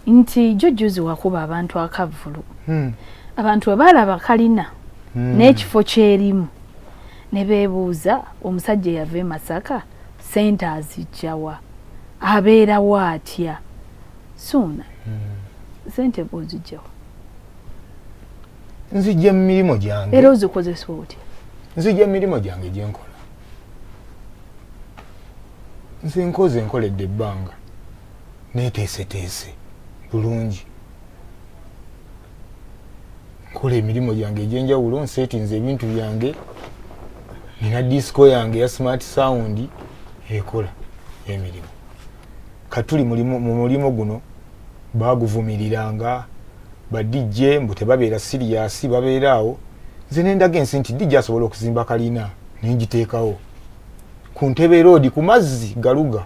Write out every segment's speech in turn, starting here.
nti jujjuzi wakuba abantu akavvulu hmm. abantu bwe baalaba kalina hmm. n'ekifo kyerimu ne beebuuza omusajja eyava e masaka sente azijjawa abeerawo atya suuna hmm. sente bwozijjawa nzijja mu mirimu gyange era ozikozesa otya nzijja mu mirimu gyange gye nkola nze nkoze nkoledde ebbanga neeteeseteese bulungi nkola emirimu gyange egyenjawulo nsetinze ebintu byange nina disco yange ya smart sound ekola emirimu katuli mu mulimu guno baguvumiriranga badijje mbu tebabeera siriyasi babeera awo nze nendaga ensi nti dijje asobola okuzimba kalina nengiteekawo ku ntebe roodi ku mazzi galuga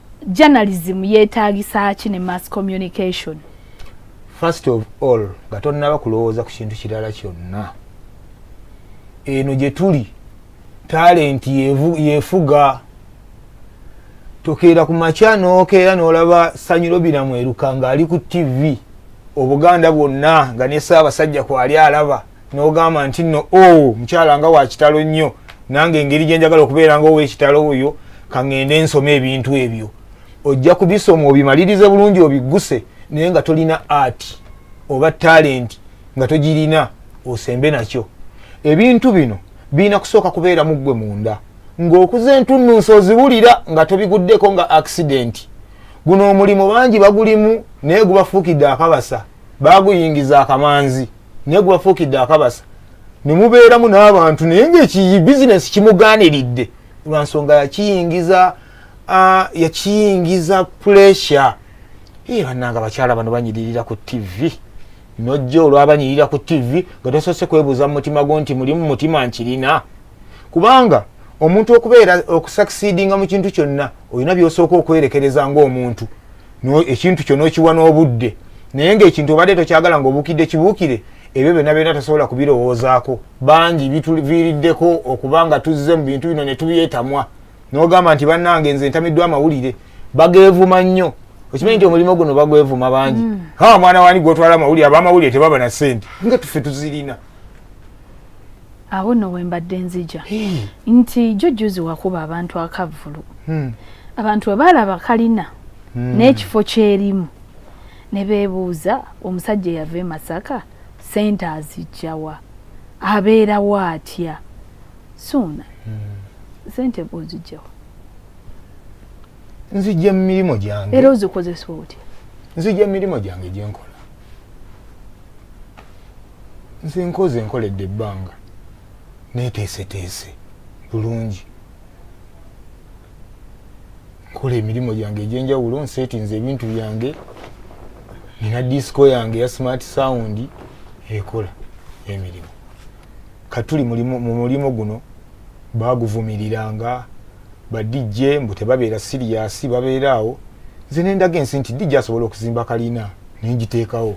journalism yetaagisa ki ne mass communication first of all nga tonnaba kulowooza ku kintu kirala kyonna eno gye tuli talenti yefuga tokeera ku makya nokeera nolaba sanyiro biramweruka ng'ali ku ttivi obuganda bwonna nga ne saabasajja kwali alaba n'ogamba nti nno o oh, mukyala nga wa kitalo nnyo nange engeri gye njagala okubeera nga ow'ekitalo oyo kaŋŋende nsoma ebintu ebyo ojja kubisoma obimalirize bulungi obigguse naye nga tolina art oba talenti nga togirina osembe nakyo ebintu bino birina kusooka kubeera mu ggwe munda ng'okuza entunnunsi oziwulira nga tobiguddeko nga akisidenti guno omulimu bangi bagulimu naye gubafuukidde akabasa baaguyingiza akamanzi naye gwebafuukidde akabasa nemubeeramu n'abantu naye ngaekiyi bizinesi kimugaaniridde lwa nsonga yakiyingiza yakiyingiza puresure ye bannanga abakyala bano banyiririra ku tivi nojja olwabanyirira ku tivi nga tosoose kwebuuza mu mutima gwo nti mulimu mutima nkirina kubanga omuntu okubeera okusakisidinga mu kintu kyonna olina byosooka okwerekereza ngaomuntu ekintu kyo nokiwa n'obudde naye ngaekintu obadde tokyagala ngaobukidde kibuukire ebyo byonna byonna tasobola kubirowoozaako bangi bituviiriddeko okuba nga tuzze mu bintu bino netubyetamwa nogamba nti bannange nze ntamiddwa amawulire bageevuma nnyo okimanyi nti omulimu guno bagwevuma bangi mm. ha mwana wani gwotwala amawulire abamawulire tebaba na sente nga tuffe tuzirina awo no wembadde nzija hey. nti jujjuzi wakuba abantu akavulu hmm. abantu webaalaba kalina hmm. n'ekifo kyerimu ne beebuuza omusajja eyava e masaka sente azijjawa abeerawo atya suuna hmm. sente bwozijjawa nzijja mu mirimu gyange era ozikozesa otya nzijja mu mirimu gyange gye nkola nze nkoze nkoledde ebbanga neeteeseteese bulungi nkola emirimu gyange egyenjawulo nseetinze ebintu byange nina disiko yange ya smart sound ekola emirimu katuli mu mulimu guno baguvumirira nga ba DJ mbu tebabeera siriyasi babeera awo nze nendaga ensi nti DJ asobola okuzimba kalina nengiteekawo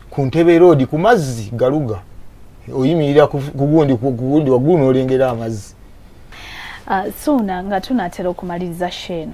ku ntebe roodi ku mazzi galuga oyimirira kugundi kugundi waggulu n'olengera amazzi ah, suuna nga tunaatera okumaliriza sheeno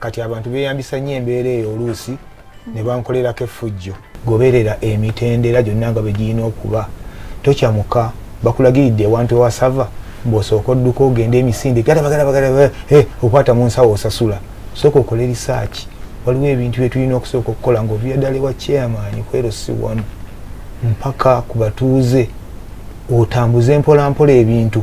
kati abantu beyambisa nnyo embeera eyo oluusi ne bankolerako effujjo goberera emitendera gyonna nga bwe girina okuba tokyamuka bakulagiridde ewantu ewasava bwosooka odduka ogende emisinde galabagalabagala eh, okwata mu nsawo osasula sooka okole risaaki waliwo ebintu byetulina okusooka okukola nga ovira ddala ewa chairman kwero si wanu mpaka ku batuuze otambuze mpolampola ebintu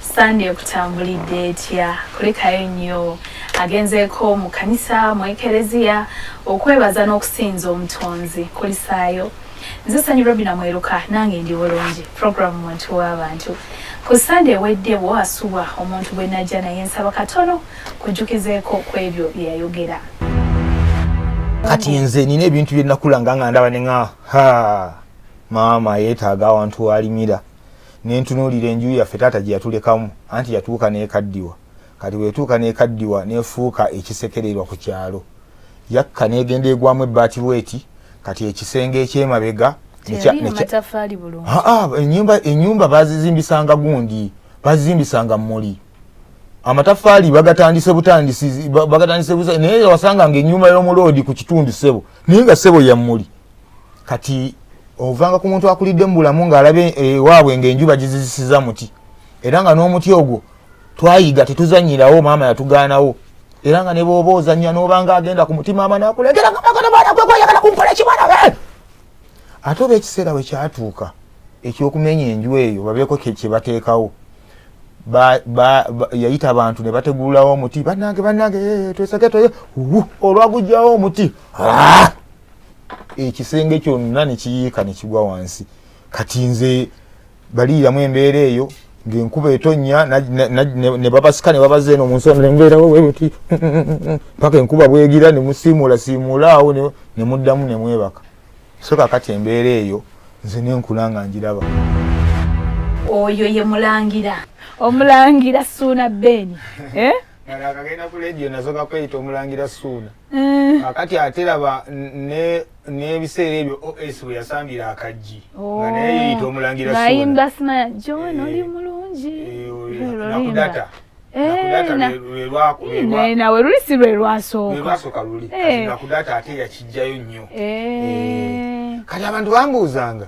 Sande ekutambulidde etya? Kulikayo nnyo. Agenzeeko mu kanisa mu ekereziya okwebaza n'okusinza omutonzi. Kulisaayo. Nze Sanyu Robina Mweruka nange ndi bulungi program muntu w'abantu. Ku Sande ewedde wo asubwa omuntu gwe najja naye nsaba katono kujjukizeeko ku ebyo bye yayogera. Kati nze nina ebintu bye nakulanga nga ndaba ne nga ha maama yeetaaga awantu walimira. Ne ntunuulira enju yaffe taata gye yatulekamu, anti yatuuka n'ekaddiwa. Kati bwe yatuuka n'ekaddiwa n'efuuka ekisekererwa ku kyalo. Yakka n'egenda egwamu ebbaati bw'eti, kati ekisenge eky'emabega ne kya, ne kya, haa, ennyumba, ennyumba baazizimbisanga gundi, baazizimbisanga mmuli. Amataffaali bagatandise butandisi, bagatandise butandisi, naye wasanganga ennyumba y'omuloodi ku kitundu ssebo, naye nga ssebo ya mmuli. kati ovanga ku muntu akulidde mu bulamu ng'alaba ewaabwe eh, ng'enju bagizizisiza muti era nga n'omuti ogwo twayiga tetuzanyirawo maama yatugaanawo era nga nebwoba ozanya nobanga agenda ku mutima ama nakulegera gamaganamanakwekuyagala kunkola ekimwana eh! ate oba ekiseera we kyatuuka ekyokumenya enju eyo babeeko kyebateekawo yayita abantu ne bategululawo omuti banange banange eh, twesage toye olwagujjawo omuti ah! ekisenge kyonna nekiyiika nekigwa wansi kati nze baliiramu embeera eyo ngenkuba etonya nebabasika nebabaza eno munsonembeerawowebti paka enkuba bwegira nemusiimuula siimuula awo nemuddamu nemwebaka so kakati embeera eyo nze nenkula nga njiraba oyo ye mulangira omulangira suuna beeni eh? agenda ku ledio nazo gakweyita omulangira suuna Eh. kakati ate laba n'ebiseera ebyo os bwe yasambira akaggi oh. nga naye yeyita omulangira bayimba simaya john eh. oli mulungi nakudata eh, nawe luli si lwe lwasookalwasooka luli nakudata ate yakijjayo nnyo kati abantu bambuuzanga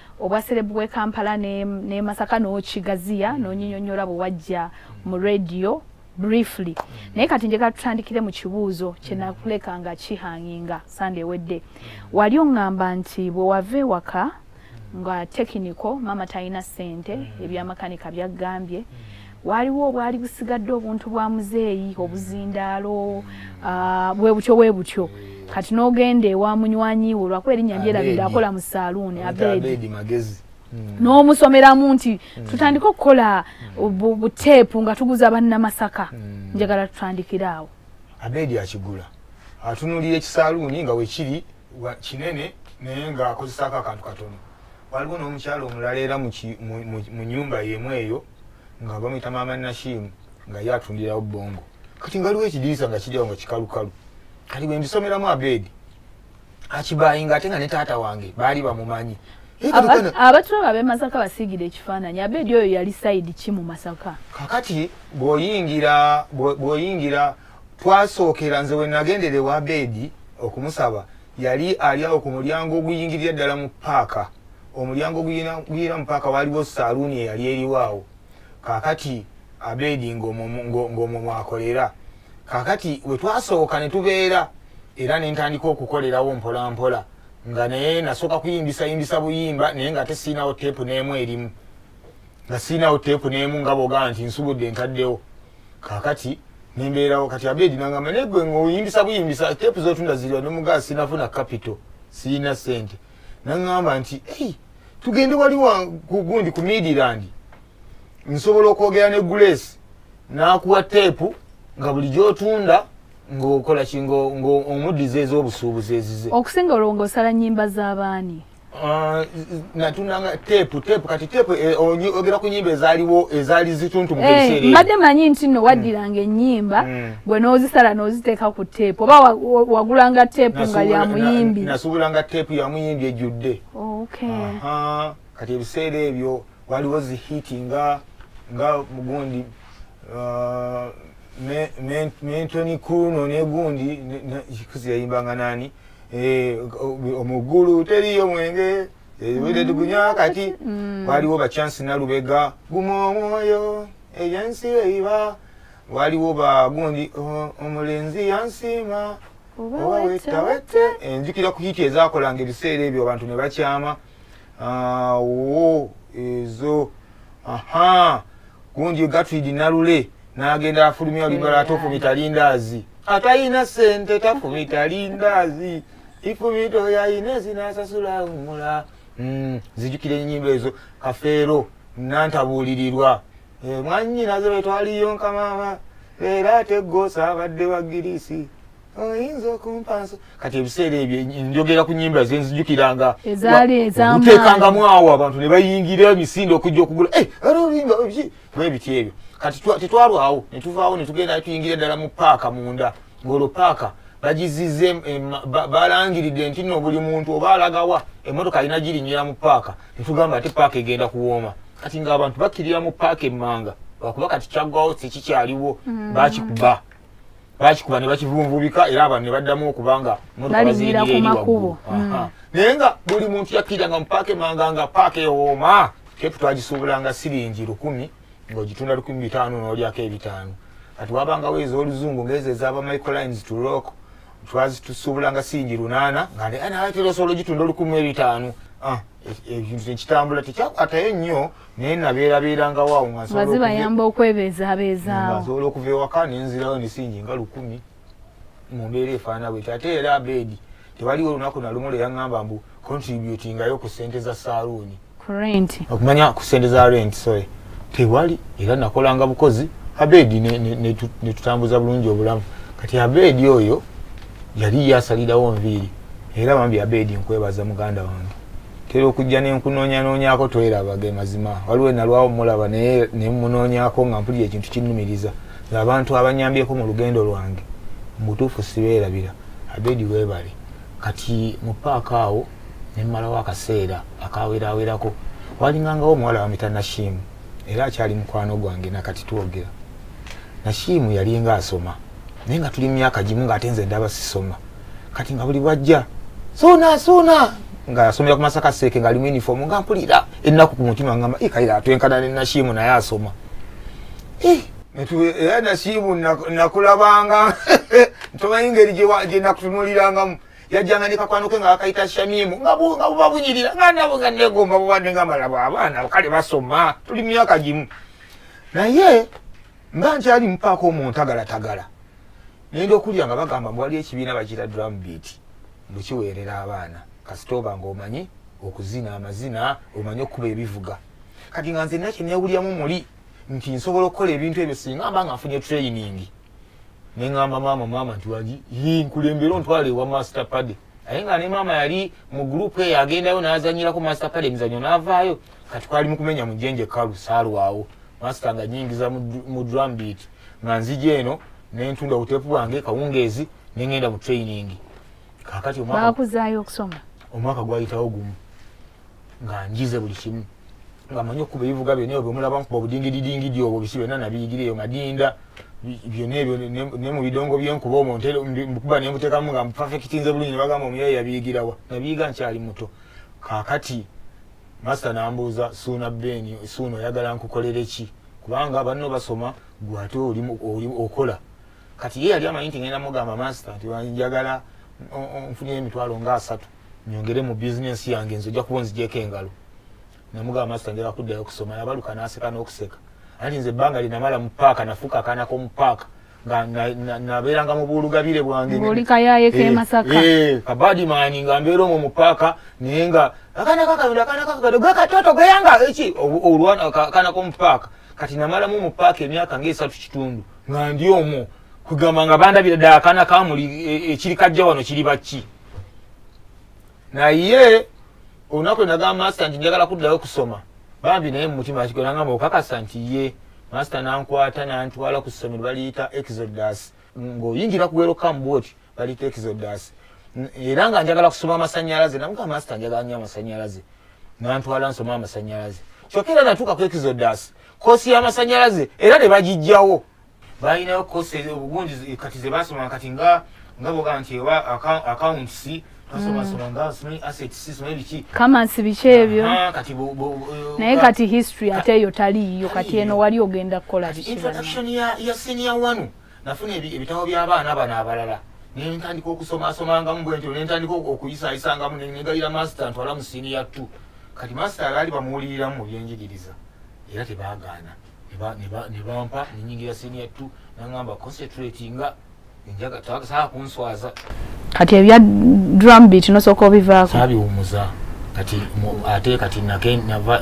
obwa serebu bw'e Kampala ne, ne Masaka n'okigaziya mm. n'onyinyonnyola bwe wajja mu radio briefly mm. naye kati njagala tutandikire mu kibuuzo kye mm. nakuleka nga kihanginga sande ewedde mm. wali oŋŋamba nti bwe wava ewaka nga tekiniko maama talina ssente mm. ebyamakanika byaggambye mm. waaliwo obwali busigadde obuntu bwa muzeeyi obuzindaalo ah, bwe butyo bwe butyo kati n'ogenda ewa munywanyi wo lwakuba erinnya lyerabidde akola mu saaluuni abeedi magezi hmm. n'omusomeramu nti hmm. tutandike okukola buteepu nga tuguza bannamasaka hmm. njagala tutandikire awo abeedi akigula atunulira ekisaaluuni nga wekiri kinene naye ng'akozesaako akantu katono waliwo n'omukyalo omulala era mu nyumba yemu eyo nga bamuyita maama nashimu nga ye atundirawo bongo kati nga waliwo ekidirisa nga kiryawo nga kikalukalu kati bwe mbisomeramu abeedi akibayinga ate nga ne taata wange baali bamumanyi abatulaba abemasaka basiigire ekifaananyi abeedi oyo yali sayidi ki mu masaka kakati bwoyingira bwoyingira twasookera nze wenagendere wa beedi okumusaba yali ali awo ku mulyango oguyingirira ddala mu paaka omulyango oguyingira mu paaka waaliwo saaluuni eyali eriwo awo kaakati abeedi ng'omwo mwakolera kaakati we twasooka ne tubeera era ne ntandika okukolerawo mpolampola nga naye nasooka kuyimbisa yimbisa buyimba naye ng'ate siinawo teepu n'emu erimu nga sirinawo teepu n'emu nga bwogamba nti nsubudde ntaddewo kakati nembeerawo kati abedi nangamba naye gwe ngaoyimbisa buyimbisa teepu zotunda ziriwa nomugaa sinafuna kapito sirina sente nangamba nti hey, tugende wali gundi ku midiland nsobola okwogera ne grace nakuwa teepu nga buli gyotunda ngaokola ki ngaomuddiza ez'obusuubuzi ezize okusinga olwo ngaosala nyimba z'abaani Ah, natunanga tepu tepu kati tepu eh, ogera ku nyimba ezaliwo ezali zituntu mu eh, biseera mbadde manyi nti no waddiranga ennyimba mm. gwe n'ozisala n'oziteeka ku tepu oba wagulanga tepu nga ya muyimbi nasuubulanga tepu ya muyimbi ejjudde oh, kati ebiseera ebyo waliwo zihiti nga nga mugundi ah, mentoni kuno negundi kikuzi yayimbanga nani Eh, omugulu teriyo mwenge ebire eh, tugunya kati mm. waliwo ba chance nalubega guma omwoyo eyansi eiba waliwo ba gundi oh, omulenzi yansiima oba wetawete enjukira eh, ku hiti ezakolanga ebiseera ebyo abantu ne bakyama awo ezo aha gundi gatwidi nalule nagenda afulumya olibala ate ofumita lindaazi atayina sente tafumita lindaazi ifumita oyo ayina ezinasasula umula hmm, zijukira enyimba ezo kafeero nantabuulirirwa eh, mwanyinaze betwaliyo nkamama leero ate gosa abadde wa girisi oyinza okumpanso kati ebiseera ebyo njogera ku nyimba zenzijukiranga ezaaliuteekangamu awo abantu ne bayingira emisinde okujja okugula eh, era oluyimba bwebiti ebyo kati tetwalwawo ne tuvaawo ne tugenda ne tuyingira ddala mu paaka munda ng'olwo paaka bagizize balangiridde nti no buli muntu oba alagawa emotoka alina girinyira mu paaka netugamba ate paaka egenda kuwooma kati ngaabantu bakkirira mu paaka emmanga lwakuba kati kyaggwawo tekikyaliwo mm. bakikuba bakikuba ne bakivunvubika era abantu ne baddamu okuba nga balinyira ku makubo hmm. naye nga buli muntu yakkiranga mu paaka emanga nga paaka ewooma kepu twagisuubulanga siringi lukumi ng'ogitunda lukumi bitaano n'olyako ebitaano kati wabangawo ez'oluzungu ng'ezo ezaba microlines to rock twazitusuubulanga siringi lunaana nga naye naye terosobola ogitunda olukumi ebitaano ah, e, e, ekintu tekitambula tekyakwatayo nnyo naye nabeerabeerangawo awo nga zibayamba okwebeezaabeezaawo nsobola okuva ewaka nenzirawo emisingi nga lukumi mu mbeera efaana bweti ate era abeedi tewaliwo olunaku nalumu lwe yaŋŋamba mbu contributingayo ku ssente za saaluuni okumanya ku ssente za rent sorry tewali era nakolanga bukozi abeedi ne tutambuza bulungi obulamu kati abeedi oyo yali yasalirawo nviiri era bambi abeedi nkwebaza muganda wange tera okujja nenkunoonyanoonyako tweraba ge mazima waliwo enalwawo mulaba naye nemunoonyako nga mpulira ekintu kinnumiriza ngaabantu abanyambyeko mu lugendo lwange mubutuufu sibeerabira abedi webale kati mu paaka awo nemmalawo akaseera akawerawerako walingangawo omuwala wamita nashimu era akyali mukwano gwange nakati twogera nashimu yalinga asoma naye nga tuli mu myaka gimu ng'ate nze ndaba sisoma kati nga buli bwajja suna suna nga asomera ku masaka seeke nga alimu uniform nga mpulira ennaku ku mutima ngamba ikaira atwenkana ne nashimu naye asoma eh, era nashimu nakulabanga ntomanyi ngeri gye nakutunulirangamu yajjanga ne kakwano ke nga akayita shamimu nga buba bunyirira nga nabo nga negomba bubadde nga malabo abaana kale basoma tuli myaka gimu naye mba nkyali mupaako omuntagalatagala nenda okulya nga bagamba mbu waliyo ekibiina bakiyita drum beat mbu kiweerera abaana kasita oba nga omanyi okuzina amazina omanyi okukuba ebivuga kati nga nze nina kyenewulyamu muli nti nsobola okukola ebintu ebyo singa mba nga nfunye training ne ŋamba maama maama nti wagi nkulembera ontwala ewa master pade aye nga ne maama yali mu gurupu eyo agendayo n'azanyirako master pade emizanyo n'avaayo kati kwali mu kumenya mujenje kalu saalwawo master nga nyingiza mu drum beat nga nzija eno nentunda obuteepu bwange kawungeezi nengenda mu training kakati bakuzaayo okusoma omwaka gwayitawo gumu nga njize buli kimu nga manyi okukuba ebivuga byona ebyo byomulaba nkuba obudingididingidi obwo bisi byona nabiyigira eyo madinda byona ebyo ne mu bidongo byenkuba omwo nkuba nemutekamu nga mufafekitinze bulungi nebagamba omuyaye yabiyigirawa nabiyiga nkyali muto kakati Master nambuuza Suuna Ben, Suuna oyagala nkukolere ki? Kubanga banno basoma gwe ate oli oli okola. Kati ye yali amanyi nti ngenda mugamba master nti njagala nfunye emitwalo nga asatu nyongere mu business yange nze ojja kuba onzigyeko engalo. Namugamba master njagala kuddayo kusoma. Yabaluka n'aseka n'okuseka. Anti nze ebbanga linamala mu paaka nafuuka akaana k'omu paaka. nabeeranga mu buulugabire bwangeoli kayaye ke eh, masaka eh, kabadi maani nga mbeera omwo mu paaka naye nga akana kakayonda akana kakakado gakatoto gayanga eki olwana akana komu paaka kati namalamu mu paaka emyaka ngaesatu kitundu nga ndi omwo kugamba nga bandabira ddala akana kamuli e, ekiri kajja wano kiri bakki naye olunaku enagamba masita nti njagala kuddayo okusoma bambi naye mumutima kiko nangamba okakasa nti ye masita nankwata nantwala ku ssomero baliyita exodus ng'oyingira kuwero kambuoti baliyita exodus era nga njagala kusoma amasanyalaze namuga masita njagala nyo amasanyalaze nantwala nsoma amasanyalaze kyokka era natuuka ku exodus kosi y'amasanyalaze era ne bagijjawo balinayo kosi obugungi kati zebasoma kati nga nga boga nti oba accounts basomasoma mm. nga simanyi assets simanyi biki kamansi biki ebyo kati naye kati history ate eyo taliiyo kati eno wali ogenda kukola kiki introduction ya ya senior wanu nafuna ebitabo by'abaana bano abalala nentandika okusomasomangamu bwentyo nentandika okuyisayisangamu nenegalira master ntwala mu siniya t kati master alaali bamuwuliriramu mu byenjigiriza era tebagaana nebampa nenyingira senior t nangamba concentrate nga enjaga tasaa kunswaza kati ebya drum beat nosooka obivaako sabiwumuza kati ate kati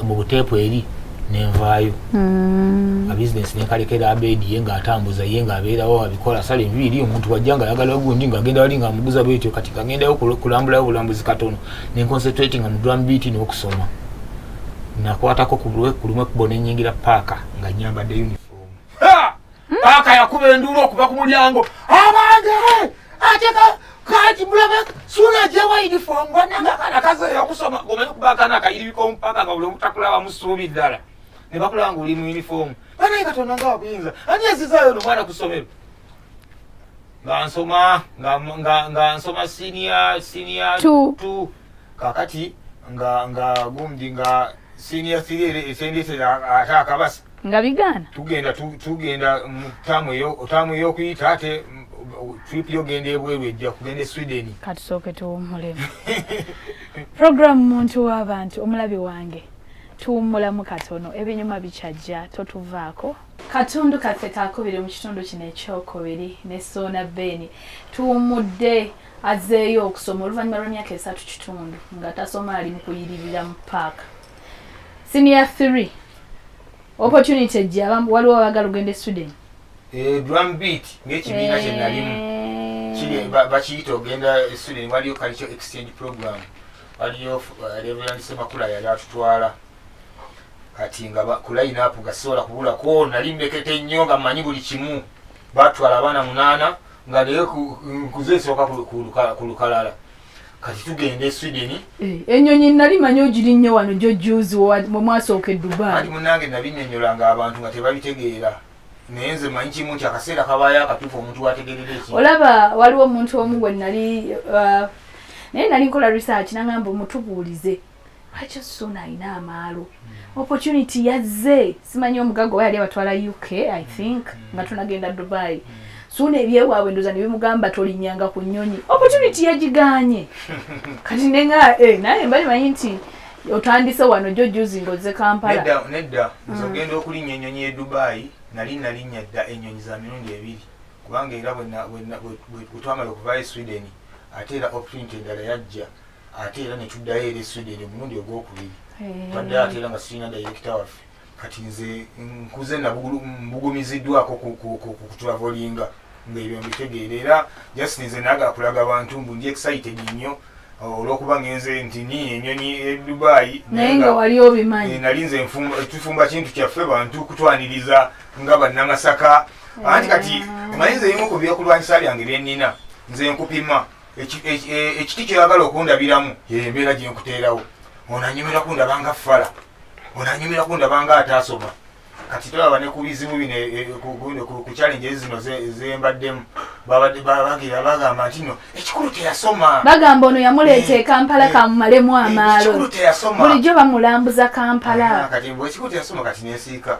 mu buteepu eri nenvaayo mm. abisinesi nenkalekera abedi ye nga atambuza ye nga abeerawo abikola sala envi eri omuntu wajja nga ayagala gundi nga agenda wali nga amuguza bwetyo kati kagendayo kulambulayo bulambuzi katono nenconcentratinga mu drum beat n'okusoma nakwatako ku lumu ekkubo ne nnyingira paaka nga nnyambadde uniform hmm? paaka yakuba enduulu okuva ku mulyango abange ate kati mulabe suula gyewa uniform wanangakana kazeeyo okusoma omanyi okuba akana akayiribika omupaka nga buli omutakulaba musuubi ddala ne bakulaba nga oli mu uniform banaye katonda nga wakuyinza ani ezizaayo no mwana ku ssomero nga nsoma nga nga nga nsoma senior senior 2 kakati nga nga gumdi nga senior 3 esendese ata akabasa nga bigana tugenda tugenda mutamu yo otamu yo kuyita ate trip yo genda ebweru ejja kugenda e Sweden katusoke tuwumule program muntu w'abantu omulabi wange tuwumulamu katono ebinyuma bikyajja totuvaako Katundu kaffe kakubiri mu kitundu kino ekyokubiri ne Soona Ben tuwummudde azeeyo okusoma oluvannyuma lw'emyaka esatu kitundu nga tasoma ali mu kuyiririra mu paaka senior three opportunity ejja waliwo abagala ogenda e sweden eh, drum beat ngaekibiina kye nalimu eh. bakiyita ogenda e sweden waliyo kalikyo exchange program waliyo eh, reverend semakula yali atutwala kati nga ku line up nga sisobola kubulako nali mmekete nnyo nga mmanyi buli kimu batwala abaana munaana nga naye nkuze esooka ku lukalala kati tugenda e sweden eh, enyonyi nali manyi ogiri nnyo wano gyo juzi mwe mwasooka e dubai ali munange nabinyonyola nga abantu nga tebabitegeera naye nze manyi kimu nti akaseera kabaayo akatuufu omuntu wategerera eki olaba waliwo omuntu omu gwe nali uh, naye nali nkola research nangamba omutubuulize lwaki osuna alina amaalo hmm. opportunity yazze simanyi omugaga oba yali abatwala uk i think hmm. nga tunagenda dubai hmm. suuna ebyewaabwe ndoza ne bimugamba tolinyanga ku nyonyi opportunity yagiganye kati nenga eh, naye mbali manyi nti otandise wano jo juzi ngoze kampala nedda nze ogenda okulinya enyonyi e dubai nali nalinya dda enyonyi za mirundi ebiri kubanga era bwetwamala okuvayo e sweden ate era opportunity endala yajja ate era ne tuddayo eri sweden omulundi ogwokubiri eh. twaddayo ate era nga sirina dayirekita waffe kati nze nkuze mbugumiziddwako kutulavolinga ngaebyo mbitegeera era just nze nagala kulaga bantu mbu ndi excited nnyo olwokuba ngenze nti ni enyonyi edubayi naye nga wali obimanyi eh, nali nze tufumba kintu kyaffe bantu kutwaniriza nga bannamasaka anti kati eh. omanyi nze ebimu ku byokulwanyisa byange byenina nze nkupima ekiti kyoyagala okundabiramu yembeera gyenkuteerawo onanyumira kundabanga fala onanyumira kundabanga ataasoma kati tolaba ne ku bizibu bino e, e, ku challenge zino zembaddemu bagira bagamba nti no ekikulu teyasoma bagamba ono yamuleeta eh, ekampala eh, kamumalemu eh, amaalo bulijjo bamulambuza kampala kati ekikulu teyasoma kati nensiika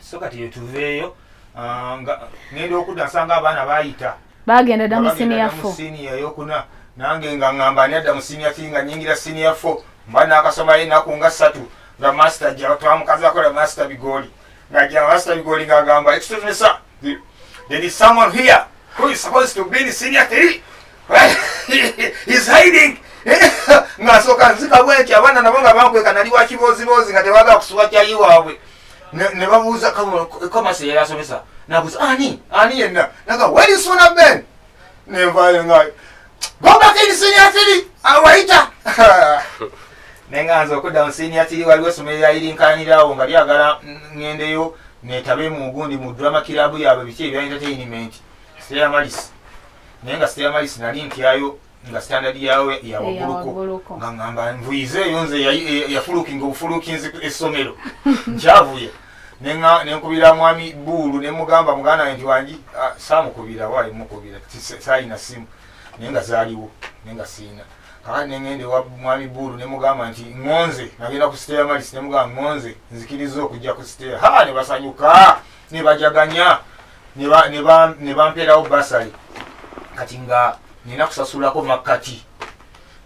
so kati yetuveeyo ah, ngenda okudda nsanga abaana bayita bagenda dda mu siniya fo siniya yokuna nange nga ngamba ani adda mu siniya ti nga nyingira siniya fo mba nakasoma enaku nga ssatu nga masita ja twamukazi akola masita bigoli nga ja masita bigoli nga agamba ekitusomesa there is someone here who is supposed to be in senior three ng'asooka nzika bwenti abaana nabo nga bankweka nali wa kibooziboozi nga tebaagala kusuba kyayi waabwe ne babuuza komasi yali asomesa nabuuza ani ani yenna naga weri suuna ben nevayo nga gobakini sinia tiri awayita naye nga nze okuddamu sinia tiri waliwo essomero lyayirinkanyirawo nga lyagala ngendeyo netabe mu gundi mu drama kirabu yaabwe biki ebya entertainment sera malisi naye nga sitera mayisi nali ntyayo nga standard yawo yawaguluko nga ngamba nvuyize eyo nze yafulukinga obufulukinzi essomero nkyavuye nenkubira mwami buulu nemugamba muganda nti wangi ah, samukubira wayi mukubira sayina simu naye nga zaliwo naye nga siina kakati nengende wa mwami buulu nemugamba nti ngonze nagenda ku siteya malis nemugamba ngonze nzikiriza okujja ku siteya ha nebasanyuka nebajaganya ne bampeerawo basale kati nga nina kusasulako makkati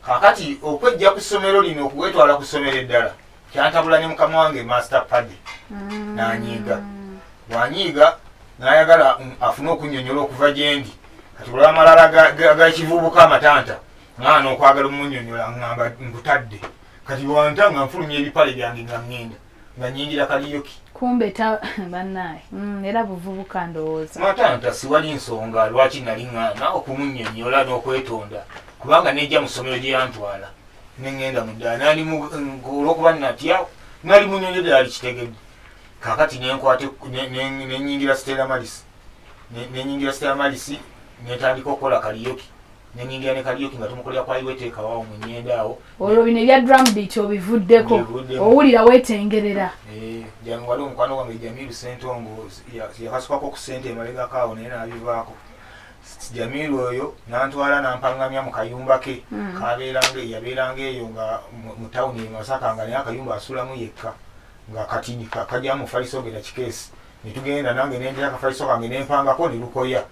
kakati okwejja ku ssomero lino okuwetwala ku ssomero eddala kyantabula ne mukama wange master pade mm. nanyiiga wanyiiga nayagala mm, afune okunyonyola okuva gyendi kati olwamalala gakivubuka amatanta mwana okwagala omunyonyola ngamba nkutadde kati wanta nga nfulumya ebipale byange nga ngenda nga nyingira kaliyoki kumbe ta banaye mm, era buvubuka ndowooza matanta siwali nsonga lwaki nali ŋŋaana okumunyonyola n'okwetonda kubanga nejja mu ssomero gye yantwala ne ŋŋenda mu ddala nali olw'okuba natya nali munyonyo ddala likitegedde kakati nenkwate nenyingira stela malisi nenyingira stela malisi netandika okukola kaliyoki nenyingira ne kaliyoki nga tumukolera kwa iwe teeka wawo mu nyenda awo olwo bino ebya drum beat obivuddeko owulira wetengerera eh, jangu waliwo omukwano gwange jamiru sentongo yakasukako ku sente emabegako awo naye nabivaako jamiru oyo nantwala nampangamya mu kayumba ke hmm. kabeeranga yabeeranga eyo nga mu tawuni emasaka nga naye akayumba asulamu yekka nga kati kajamufaliso ngera kikeesi ne tugenda nange nendira akafaliso kange ne mpangako ne lukoya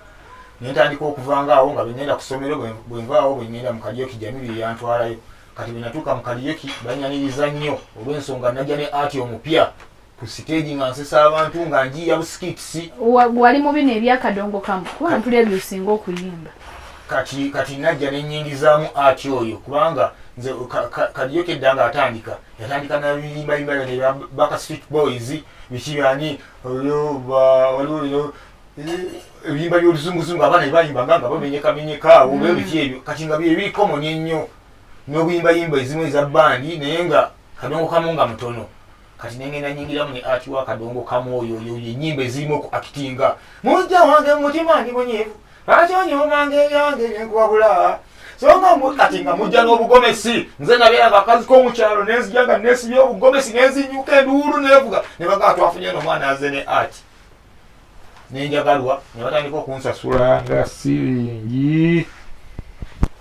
ne ntandika okuvanga awo nga bwe ngenda ku ssomero bwe nvaawo bwe ngenda mu kaliyoki jamibiri yantwalayo kati bwe natuuka mu kaliyoki banyaniriza nnyo olw'ensonga najja ne ati omupya ku siteegi nga nsesa abantu nga njiya busikitisi wali mu bino ebyakadongo kamu kuba ntuli ebyo osinga okuyimba kati kati najja nenyingizaamu ati oyo kubanga nze kaliyoki edda nga atandika yatandika nabiyimayima yona ebya baka street boys biki byani oyo waliwo bino ebiyimba byoluzunguzungu abaana bebayimba nga nga bamenyekamenyeka awo mm. bebiki ebyo kati nga byebiri common ennyo n'obuyimbayimba ezimu eza bandi naye nga kadongo kamu nga mutono kati nengenda nyingiramu ne ati wa kadongo kamu oyo oyo enyimba ezirimu okuakitinga mujja wange mumutima ndi munyivu lwaki onyomanga ebyange byenkubabula songa mwe kati nga mujja n'obugomesi nze nabeera nga akazi k'omukyalo nenzija nga nesibya obugomesi nenzinyuka enduulu nevuga ne bagaa twafunye no omwana aze ne art nenjagalwa ne batandika okunsasula nga siringi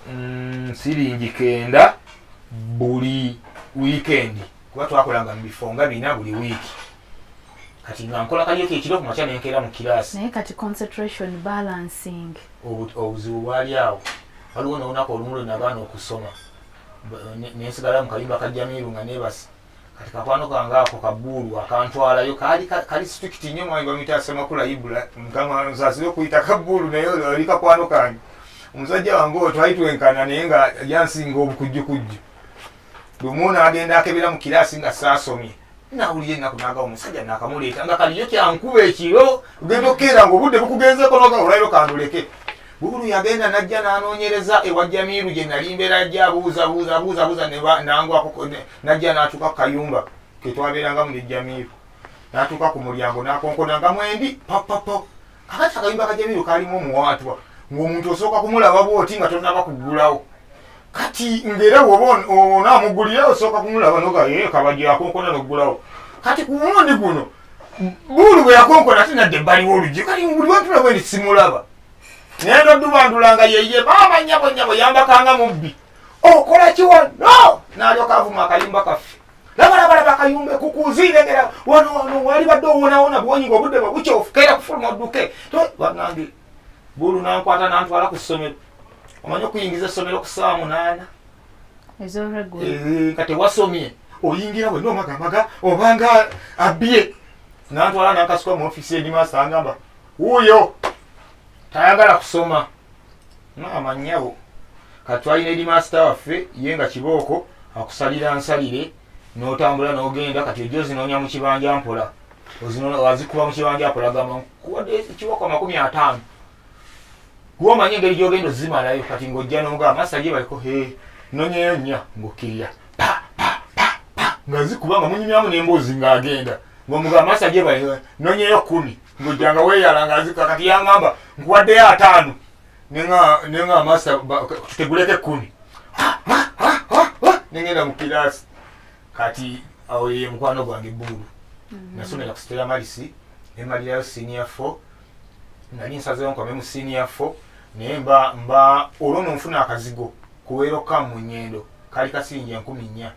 mm, siringi kenda buli wiikendi kuba twakolanga mu bifo nga bina buli wiiki kati nga nkola kalyeko ekiro kumakya nenkeera mu kiraasi naye kati concentration balancing obuzibu bwali awo waliwo nolunaku olumu lwe nagaana okusoma nensigala mu kayumba ka jamiiru nga nebasa kati kakwano kange ako kabuulu akantwalayo kali kali strict nnyo mwami bamuyita asemakula ibula mukama nsasire okuyita kabuulu naye oli kakwano kange omusajja wange oyo twali twenkana naye nga yansinga obukujjukujju lumu nagenda akebera mu kiraasi nga saasomye nawulira ennaku naga omusajja nakamuleeta nga kaliyo kyankuba ekiro ogenda okukeera nga obudde bukugenzeko noga olwaliro kanduleke bukulu yagenda najja nanoonyereza ewa jamiiru gye nali mbeera ajja abuuzabuuza abuuzabuuza nangwako najja natuuka ku kayumba ketwabeerangamu ne jamiiru natuuka ku mulyango nakonkonanga mwendi papapo kakati akayumba ka jamiiru kalimu omuwaatwa ng'omuntu osooka kumulaba bwoti nga tonaba kuggulawo kati ngera woba onamugulira osooka kumulaba nogaye kabajja akonkona nokugulawo kati ku mulundi guno buulu bwe yakonkona ate nadde ebbaliwo oluggi kati buli wentulaba endi simulaba naye nodubandula nga yeye maama nyabo nyabo yambakanga mubbi okola kiwa no nalyoka avuma akayumba kaffe labalabalaba akayumba ekukuziire ngera wano wano wali badde owonawona bwonyi nga obudde bwe bukyofu keera kufuluma odduke banange bulu nankwata nantwala ku ssomero omanyi okuyingiza essomero ku ssaawa munaana eh, kati wasomye oyingira bwe nomagamaga obanga abye nantwala nankasuka mu ofisi enima asangamba wuuyo tayagala kusoma maama nyabo katwalina eri maasita waffe ye nga kibooko akusalira nsalire notambula nogenda kati ojo zinoonya mu kibanja mpola azikuba mu kibanja mpola gamamu kuwadde kiboko amakumi ataano kuba omanyi engeri gyogenda ozimalayo kati ngaojja nomugaa masa ye baliko he nonyeyo nnya ngaokkirira nga zikuba nga munyumyamu nemboozi ngaagenda ngaomugaa masa gye bali nonyeyo kumi ngaojja nga weyala nga azika kati yangamba nkuwaddeyo ataano nenga masa tuteguleko ekkumi nengenda mu kiraasi kati awo ye mukwano gwange buulu mhm. nasomera ku stela malisi nemalirayo senior fo nali nsazewo nkome mu senior fo naye mba mba olwo nonfuna akazigo kuweeroka mu nyendo kali kasinja enkumi nnya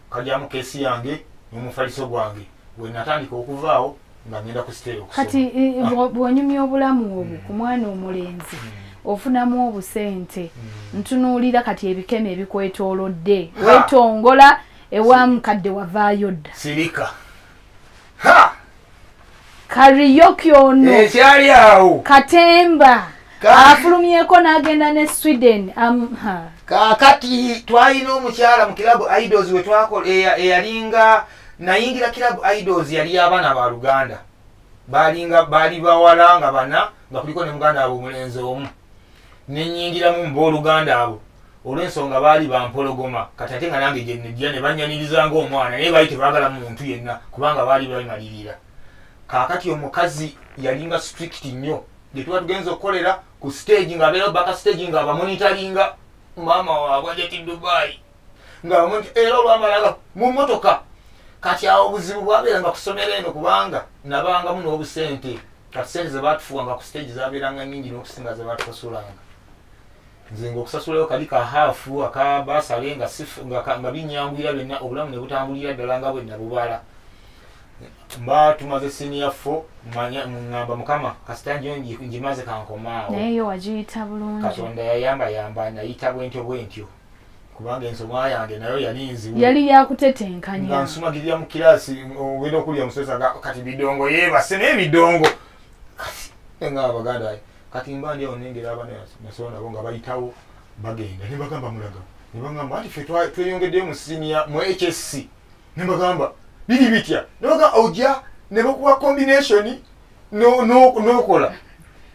kajamu kesi yange nomufaliso gwange wenatandika okuvaawo nga ngenda ku siteeyo okusoma kati eh, eh, ah. bw'onyumya obulamu obwo ku mwana omulenzi hmm. ofunamu obusente hmm. ntunuulira kati ebikemo ebikwetoolodde wetongola ewa mukadde wavaayo dda sirika kariyoki ono ekyali awo katemba afulumyeko n'agenda ne sweden kakati twalina omukyala mu kilabu idols wetwakola eyalinga nayingira club idols yali y'abaana ba luganda balinga baali bawala nga bana nga kuliko ne muganda abo omulenzi omu nenyingiramu mu booluganda abo olw'ensonga baali bampologoma kati ate nga nange gyenejja ne bannyaniriza ngaomwana naye baali tebaagala muntu yenna kubanga baali bamalirira kaakati omukazi yalinga strict nnyo gye tuba tugenza okukolera ku stage ng'abeerawo baka stage ng'abamonitaringa maama waabwe ajati dubai nga omuntu era olwamalala mu motoka kati awo obuzibu bwabeeranga kusomero eno kubanga nabangamu n'obusente kati sente zebatufuwanga ku stage zabeeranga nyingi n'okusinga zebatusasulanga nze nga okusasulayo kali ka haafu aka basale nga nga binyangwira byonna obulamu nebutambulira ddala nga bwe nabubala mba tumaze siniya fo ngamba mukama kasita njo njimaze kankomaawo katonda yayamba yamba nayita bwentyo bwentyo kubanga ensoma yange nayo yali nzibu yali yakutetenkanya nga nsumagirira mu kiraasi obera okulya omusesa kati bidongo yeebase naye bidongo nga abaganda kati mba ndi awo nengera abana nasoba nabo nga bayitawo bagenda ne bagamba mulaga ne bagamba anti fe tweyongeddeyo mu siniya mu hsc ne bagamba biri bitya ne bagamba ojja ne bakuwa combinationi n'okola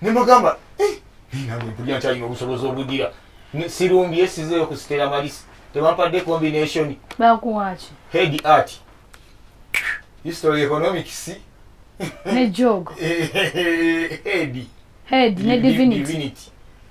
ne mugamba eh, nange mpulira nkyalina obusobozi obugira sirumbye sizeeyo ku sitera malisi tebampadde combination bakuwaki head art history economics ne jog head head ne divinity, divinity.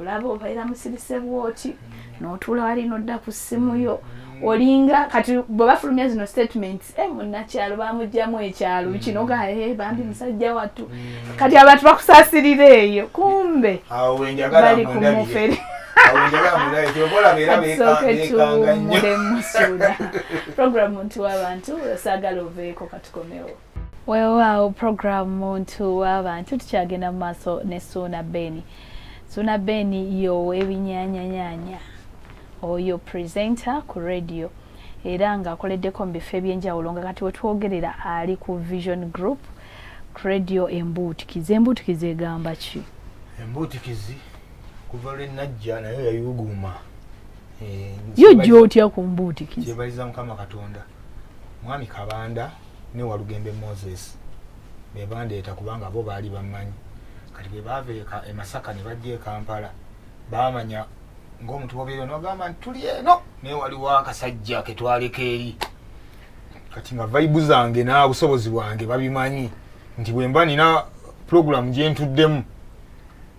olaba obaira musirise bwoti notuula wali nodda ku ssimu yo olinga kati bwe bafulumya zino statements e eh, munnakyalo bamugjamu ekyalo mm. kino gae eh, bambi musajja wattu mm. kati abantu bakusasirira eyo kumbe bali ku mufere program nti wabantu osagala oveeko katukomewo weewaawo program muntu w'abantu tukyagenda mu maaso ne suuna beni suuna beni yowa ebinyanyanyanya oyo presenter ku radio era ng'akoleddeko mu bifo eby'enjawulo nga kati wetwogerera ali ku vision group ku radio embuutikizi embuutikizi egamba ki embuutikizi kuva lwe najja nayo yayuguuma eh, yo jja otya ku mbuutikizi kyebaliza mukama katonda mwami kabanda ne walugembe moses be bandeeta kubanga bo baali bammanyi kati bwe baava e masaka ne bajja e kampala baamanya ng'omuntu bobeera nogamba nti tuli eno naye waliwo akasajja ke twaleka eri kati nga vaibu zange n'obusobozi bwange babimanyi nti bwe mba nina pulogulaamu gye ntuddemu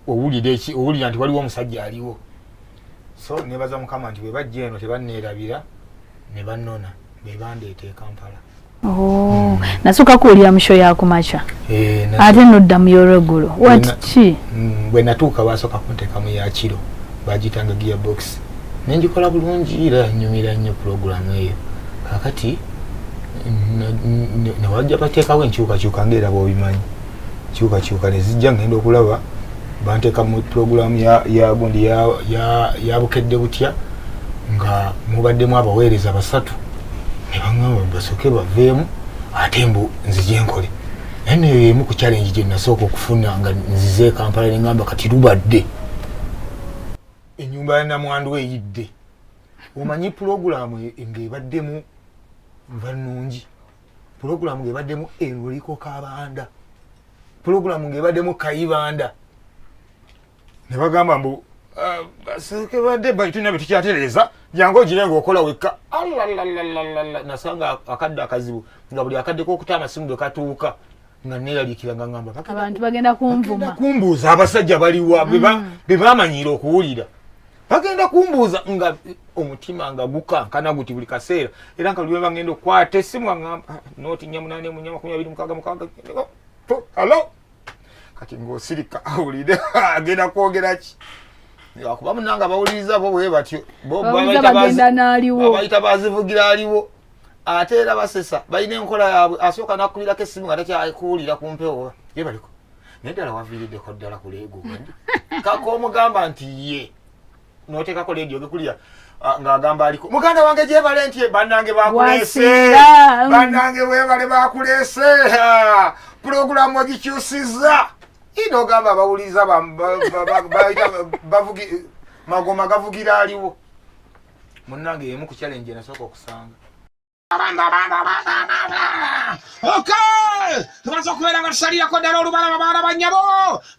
owulira eki owulira nti waliwo omusajja aliwo so nebaza mukama nti bwebajja eno tebanneerabira ne bannona be bandeeta e kampala oh, hmm. nasooka kuwulira musho yakumakya eh, ate nodda mu yolweggulu wati ki hmm, bwe natuuka basooka kunteekamu yakiro bagitanga gia box nengikola bulungi era nyumira nnyo pulogulamu eyo kakati newajja bateekawo enkyukakyuka ngaera bwobimanyi kyukakyuka nezijja ngenda okulaba banteka mu pulogulaamu yagundi ya bukedde butya nga mubaddemu abaweereza basatu nebaŋamba basooke baveemu ate mbu nzije nkole naye neyo yemu ku challenge gye nasooka okufuna nga nzize ekampala neŋamba kati lubadde enyumba ya namwandu eyidde omanyi pulogulaamu e, ng'ebaddemu nva nnungi pulogulamu ng'ebaddemu enuliko kabanda pulogulamu ng'ebaddemu kayibanda ne bagamba mbu ah, sekebadde tulina bye tukyatereeza jangu ogire ngaokola wekka nasanga akadde akazibu nga buli akaddeko okuta amasimu bwe katuuka nga neeraliikira nga ngamba abantu bagenda kunvuma kumbuuza abasajja baliwa be mm. bamanyira okuwulira bagenda kumbuuza nga omutima nga gukankana guti buli kaseera era nga luwe bagenda okukwata esimu aamba ah, noti nyamunane munyama kumi abiri mukaga mukaga alo kati ngaosirika awulire agenda kwogera ki akuba munanga bawuliriza bo bwe batyo bobayita bazivugira aliwo ate era basesa balina enkola yaabwe asooka nakukulirako essimu nga takyakuwulira ku mpewo ye baliko naye ddala waviiriddeko ddala ku leego kaka omugamba nti ye noteekako leediyo gekulira ng'agamba aliko muganda wange gyebale nti bannange bakuleese bannange webale bakuleese pulogulaamu ogikyusizza ina ogamba abawuliriza bavugi magoma gavugira aliwo munnange yemu ku challenge enasooka okusanga tumaze okubeera nga tusalirako ddala olubalaba baana bannyabo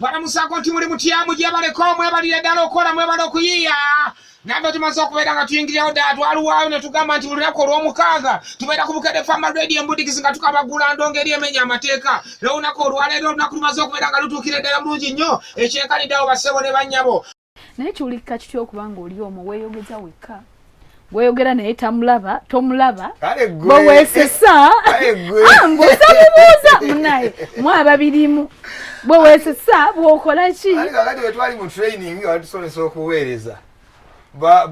balamusaako nti muli mutyamu gyebaleko mwebalire ddala okukola mwebale okuyiiya nabyo tumaze okubeera nga tuyingirirawo ddala twaluwaayo ne tugamba nti buli lunaku olw'omukaaga tubeera ku bukede fama radio embudikizi nga tukabagula ndongo eri emenya amateeka lwolunaku olwaleero olunaku lumaze okubeera nga lutuukira eddala bulungi nnyo ekyenkaniddeawo bassebo ne bannyabo naye kiwulikika kitya okuba nga oli omu weyogeza wekka gweyogera naye tamulaba tomulaba bwewesesa ah, mbusamubuuza munaye mwaba birimu bwewesesa bwokola ki kakati wetwali mu training nga batusomesa okuweereza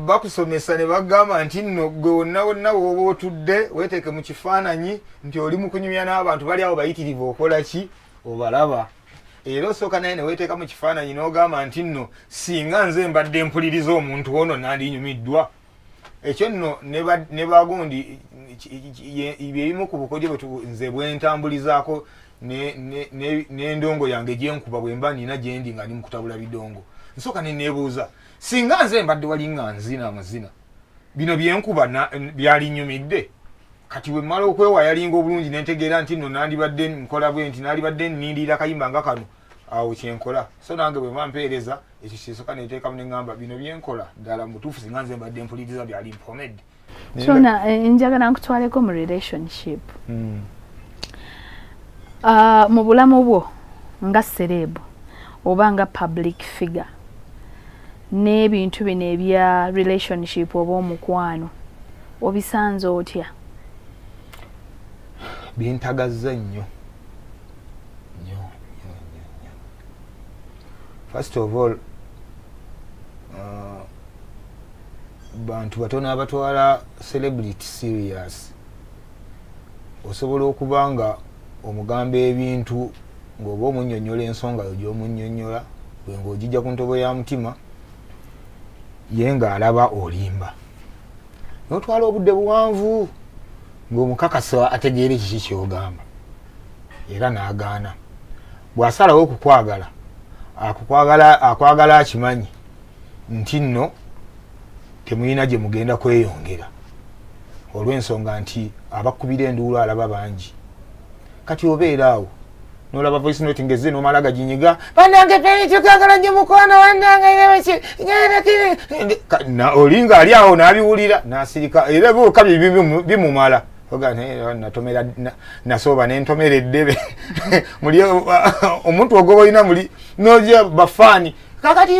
bakusomesa ne bagamba nti nno gwe wonna wonna wooba otudde weteeke mu kifaananyi nti oli mu kunyumya n'abantu bali awo bayitirivu okola ki obalaba era osooka naye neweteeka mu kifaananyi n'ogamba nti nno singa nze mbadde mpuliriza omuntu ono nandinyumiddwa ekyo nno ne bagundi byebimu ku bukodyo nze bwentambulizaako n'endongo yange gyenkuba bwemba nina gyendi nga ndi mukutabula bidongo nsooka neneebuuza singa nze mbadde walinga nzina amazina bino byenkuba byalinyumidde kati wemmala okwewa yalinga obulungi nentegeera nti no nandibadde nkola bwe nti nalibadde nindiira kayimba nga kano awo kyenkola so nange bwe bampeereza ekyo kyesoka neteekamu neŋamba bino byenkola ddala mubutuufu singa nze mbadde mpuliriza byali mpomedde kyona eh, njagala nkutwaleko mu relationship hmm. ah, mu bulamu bwo nga sereebu oba nga public figure n'ebintu bino ebya relationship oba omukwano obisanze otya bintagazza nnyo first of all uh, bantu batono abatwala celebrity serious osobola okuba nga omugamba ebintu ng'oba omunyonyola ensonga yo gy'omunyonyola gwe ng'ogijja ku ntobo ya mutima ye ng'alaba olimba n'otwala obudde buwanvu ng'omukakasa ategeera ekiki ky'ogamba era n'agaana bw'asalawo okukwagala akwagala akimanyi nti nno temulina gye mugenda kweyongera olw'ensonga nti abakubira enduulu alaba bangi kati obeera awo nolaba voice note ngezze nomala gaginyiga banange penikikagala nyo mukwano wanange olinga ali awo nabiwulira nasirika era ebiwuka bimumala natomera nasooba nentomera eddebe muli omuntu ogoba olina muli noja bafaani kakati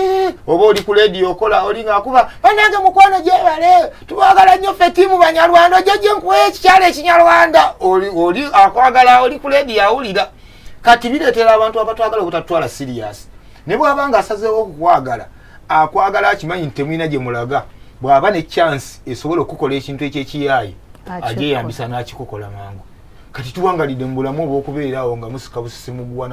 oba oli ku lediyo okola oli ngaakuba banange mukwano gyebale tubagala nnyo ffe tiimu banyarwanda ojja gye nkuwa ekikyalo ekinyarwanda oli akwagala oli ku lediyo awulira kati bireetera abantu abatwagala obutatwala siriyasi ne bwaba nga asazeewo okukwagala akwagala akimanyi nti temulina gye mulaga bw'aba ne chansi esobola okukola ekintu ekyekiyaayi agyeyambisa n'akikukola mangu kati tuwangalidde mu bulamu obwokubeeraawo nga musika busisi muguwa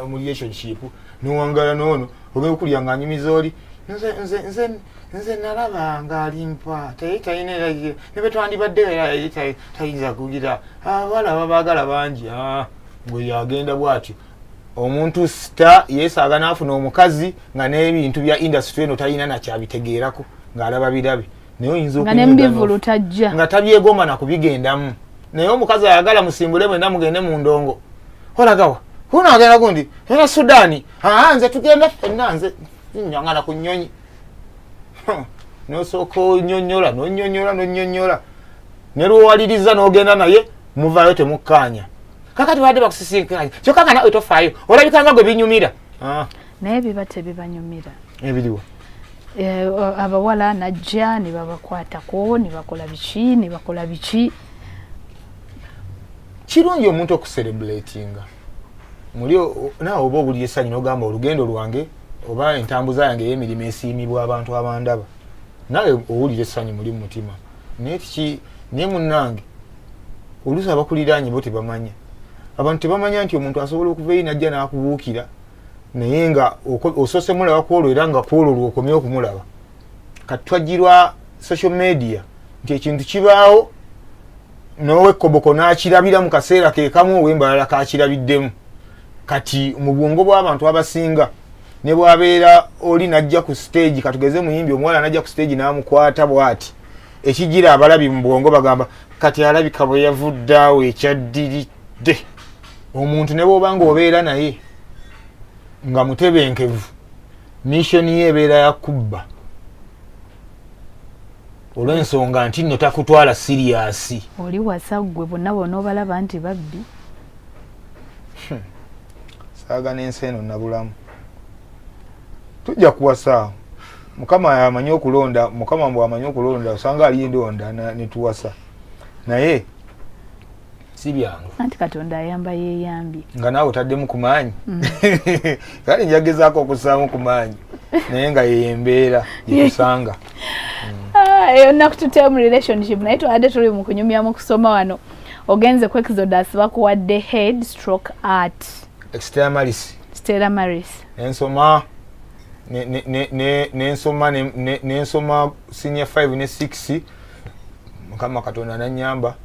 mu relationship nowangala noono oba okulya nga anyumiza oli nze nze nze nze nalabanga alimpa taye talina era ne bwe twandibadde era yali tayinza kugira abawala ah, babaagala bangi ah, gwe yagenda bwatyo omuntu sita yeesaaga n'afuna omukazi nga n'ebintu bya indasitry eno talina nakyabitegeerako ng'alaba birabe naye oyinza nga nemubivulu tajja nga tabyegomba nakubigendamu naye omukazi ayagala musimbule mwena mugende mu ndongo olagawa huno agenda gundi era sudani aa nze tugenda fenna nze nyangana ku nyonyi nosooka onyonyola nonyonyola nonyonyola nelwowaliriza nogenda naye muvayo temukkaanya kakati badde bakusisinkanya kyokka nga nawe tofaayo olabikanga gwe binyumira ah. naye biba tebibanyumira ebiriwa eh, abawala najja nebabakwatako nebakola biki nebakola biki kirungi omuntu okuserebulatinga muli nawe oba obuli esanyu nogamba olugendo lwange oba entambuza yange eyemirimu esiimibwa abantu abandaba nawe owulira esanyu muli mumutima naye tiki naye munange oluusi abakuliraanye bo tebamanya abantu tebamanya nti omuntu asobola okuva eyi najja n'akubuukira naye nga osoose mulaba kwolwo era nga kwolwo lwokomye okumulaba kati twajjirwa social media nti ekintu kibaawo nowekoboko n'akirabira mu kaseera kekamu owembalala kakirabiddemu kati mu bwongo bw'abantu abasinga ne bwabeera oli najja ku stage katugeze muyimbi omuwala najja ku stage n'amukwata bwati ekijira abalabi mu bwongo bagamba kati alabika bwe yavudde awo ekyaddiridde omuntu ne bwoba nga obeera naye nga mutebenkevu missoni ye ebeera ya kubba olw'ensonga nti nno takutwala siriyasi oli wasa ggwe bonna bona obalaba nti babbi hmm. saaga n'ensi eno nabulamu tujja kuwasa mukama amanyi okulonda mukama mbw amanyi okulonda osanga ali endonda netuwasa naye si byangu anti katonda ayamba yeyambye nga naawe otaddemu ku maanyi mm. kale njagezaako okussaamu ku maanyi naye nga yeyo embeera yetusanga ah, eyo nnaku tutee mu relationship naye twabadde tuli mu kunyumya mu kusoma wano ogenze ku exodus bakuwadde head stroke art stela maris stela maris nensoma nensoma nensoma senior 5 ne 6 mukama katonda nanyamba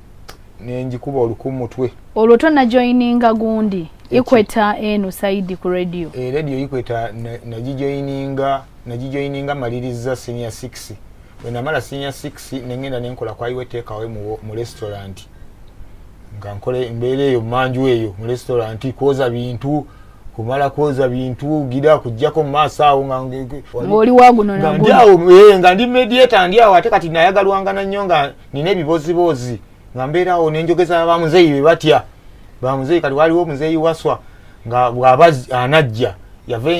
nenjikuba oluku mutwe olwo tonajoininga gundi ikweta eno saidi ku radio e radio ikweta nagijoininga nagijoininga maliriza senior 6 wenamala senior 6 nengenda nenkola kwaiwe tekawe mu, mu restaurant nga nkole embeera eyo manju eyo mu restaurant kwoza bintu kumala kwoza bintu gira kujjako maaso awo ngaoli wagunonandiawo eh, nga ndi mediata ndi awo ate kati nayagalwangana nnyo nga nina ebiboziboozi nga mbeeraawo nenjogeza bamuzeeyi be batya bamuzeeyi kati waliwo omuzeeyi waswa nga bwaba anajja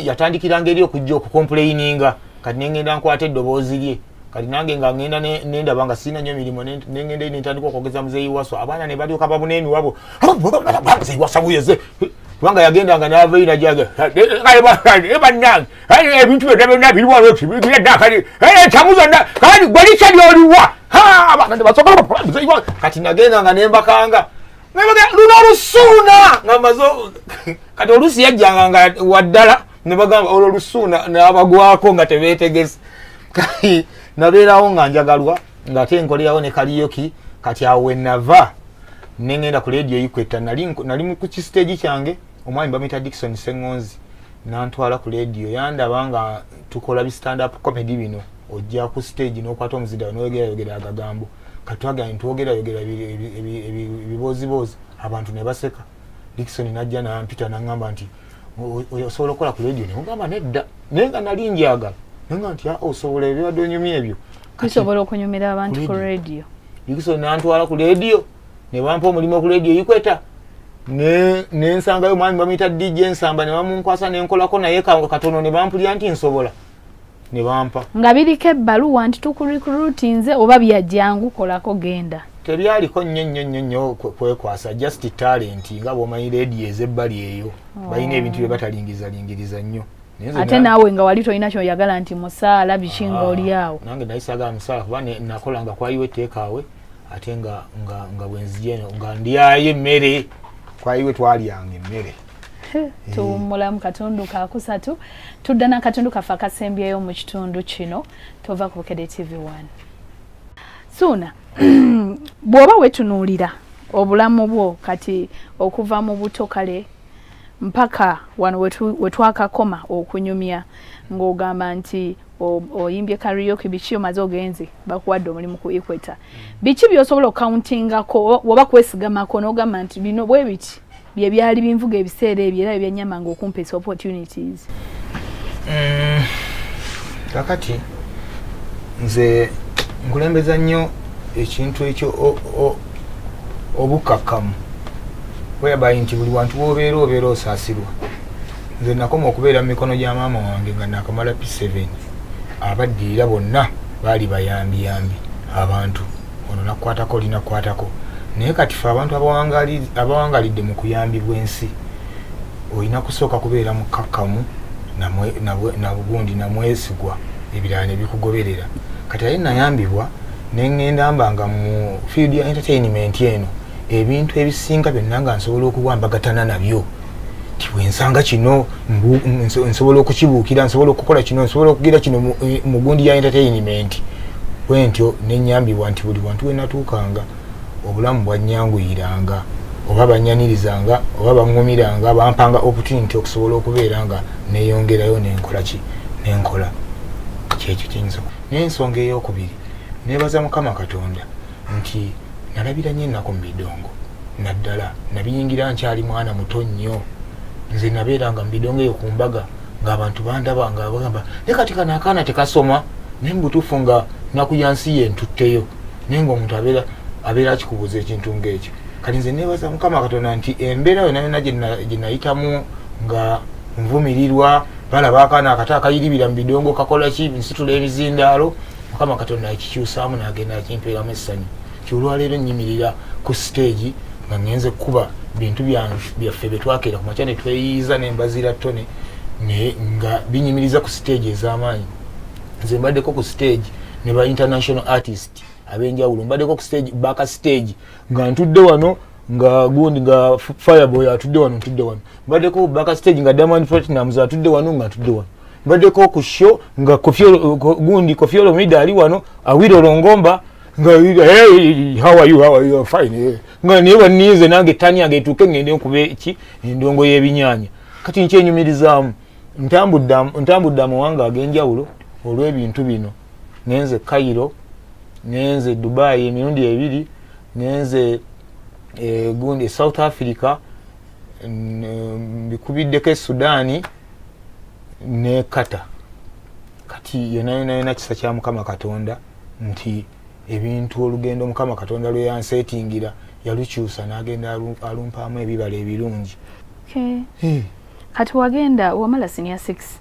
yatandikiranga eri okujja okukompuleininga kati nengenda nkwata eddoboozi lye kati nange nga ngenda nendaba nga sirina nyo mirimu nengenda nentandika okwogeza muzeeyi waswa abaana nebalyoka babuna emiwabo muzeeyi waswa buyeze kubanga yagendanga n'avayo najaga bannange ebintu byonna byonna biriwa loti byaddakali ekyamu zonna kati gwe likya lyoliwa kati nagendanga nembakanga luno olusuuna nga maze kati oluusi yajjanga nga waddala ne bagamba olwo olusuuna n'abagwako nga tebeetegese nabeerawo nga njagalwa ng'ate nkolerawo ne kaliyoki kati awo wenava ne ngenda ku leediyo ikwetta nali ku kisiteegi kyange omwami bamuyita dikison seŋonzi nantwala ku leediyo yandaba nga tukola bi stand up comedy bino ojja ku siteegi n'okwata omuzidao noyogerayogera agagambo kati twagenda nitwogerayogera ebibooziboozi abantu ne baseka dikison najja nampita naŋamba nti osobola okukola ku leediyo nemugamba nedda naye nga nali njagala naye nga nti ah, osobola ebibadde onyumya ebyo tusobola okunyumira abantu ku radio ikiso nantwala ku radio ne bampa omulimu ku radio ikweta ne ne nsanga yo mwami bamita DJ nsamba ne bamunkwasa ne nkola ko naye ka katono ne bampulya nti nsobola ne bampa ngabiri ke balu want to recruit nze oba bya jangu kola ko genda tebyali ko nyo nyo nyo nyo kwe kwasa just talent ngabo manyi radio ezebbali eyo oh. bayine ebintu bye batalingiza lingiriza nyo ate naawe nga wali tolina kyoyagala nti musaala biki nga ah, oli awo nange naye saagala musaala kuba nakola nga kwayiwa etteekaawe ate nga nga bwenzija eno nga ndyayo emmere kwayiwe twalyanga emmere eh. tuwummula mu katundu kakusatu tudda n'akatundu kaffe akasembyeyo mu kitundu kino tova ku bukede tv one suuna bw'oba wetunuulira obulamu bwo kati okuva mu buto kale mpaka wano wetwakakoma okunyumya ng'ogamba nti oyimbye karaoke biki omaze ogenze bakuwadde omulimu ku equator biki byosobola okukauntingako oba kwesigamako n'ogamba nti bino bwe biti bye byali binvuga ebiseera ebyo era byebyanyamanga okumpesa opportunities mm, kakati nze nkulembeza nnyo ekintu ekyo obukakkamu whereby nti buli wantu wobeera obeera osaasirwa nze nakoma okubeera mu mikono gya maama wange nga nakamala p7 abaddirira bonna baali bayambiyambi abantu ono nakukwatako linakukwatako naye kati fe abantu abawangalidde mu kuyambibwa ensi olina kusooka kubeera mukakkamu nabugundi namwesigwa ebirala nebikugoberera kati aye nayambibwa nengenda mba nga mu field ya entertainment eno ebintu ebisinga byonna nga nsobola okuwambagatana nabyo nti bwensanga kino nsobola okukibuukira nsobola okukola kino nsobola okugira kino mu gundi ya entertainment bwentyo nenyambibwa nti buli wantu wenatuukanga obulamu bwanyanguyiranga oba banyanirizanga oba baŋumiranga bampanga opportunity okusobola okubeera nga neyongerayo nenkola ki nenkola kyekyo kiyinza N'ensonga ey'okubiri, neebaza Mukama Katonda nti nalabira nnyo ennaku mu bidongo naddala nabiyingira nkyali mwana muto nnyo nze nabeeranga mu bidongo eyo ku mbaga ng'abantu bandaba nga bagamba ne kati kano akaana tekasoma naye mubutuufu nga nnaku ya nsi ye ntutteyo naye ng'omuntu abeera abeera akikubuuza ekintu ng'ekyo kati nze neebaza Mukama Katonda nti embeera yona yona gye nayitamu nga nvumirirwa balaba akaana akato akayiribira mu bidongo kakola ki nsitula ebizindaalo mukama katonda akikyusaamu nagenda akimpeeramu essanyu kyolwaleero nyimirira ku siteegi nga ngenze kukuba bintu byaffe byetwakeera ku makya netweyiiza nembazira tone nga binyimiriza ku siteegi ez'amaanyi nze mbaddeko ku siteegi ne ba international artist abenjawulo mbaddeko ku siteegi baka siteegi nga ntudde wano nga gundi nga fireboy atudde wano ntudde wano mbaddeko baka stage nga diamond platinums atudde wano nga ntudde wano mbaddeko ku show nga gundi kofiolo mida ali wano awira olongomba nga hey, how are you how are you fine hey. Eh. nga naye banize nange tani yange etuuke ngende nkuba eki endongo y'ebinyanya kati nkyenyumirizaamu ntambudde amawanga ag'enjawulo olw'ebintu bino ngenze cairo ngenze dubai emirundi ebiri ngenze eh, gundi south africa mbikubiddeko esudani ne kata kati yonayonayona kisa kya mukama katonda nti ebintu olugendo mukama katonda lweyansetingira yalukyusa nagenda alumpaamu ebibala ebirungi kati wagenda wamala sinia six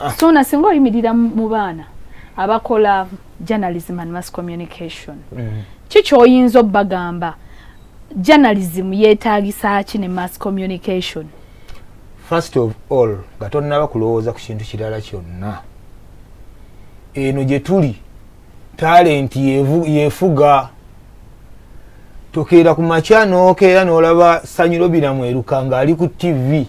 ah. sona singa oyimirira mu baana abakola journalism and mass communication mm. ki kyoyinza obagamba journalism yetagisa ki ne mass communication first of all nga tonnaba kulowooza ku kintu kirala kyonna eno gye tuli talenti yefuga tokeera ku makya nokeera nolaba sanyiro biramu eruka nga ali ku tv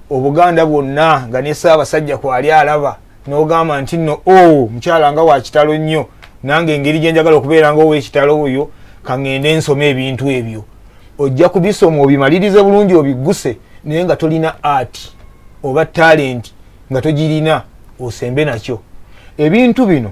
obuganda bwonna nga ne saabasajja kwali alaba nogamba nti no o oh, mukyala nga wakitalo nnyo nange engeri gyenjagala okubeera nga owekitalo oyo kaŋŋende nsoma ebintu ebyo ojja kubisoma obimalirize bulungi obigguse naye nga tolina art oba talenti nga togirina osembe nakyo ebintu bino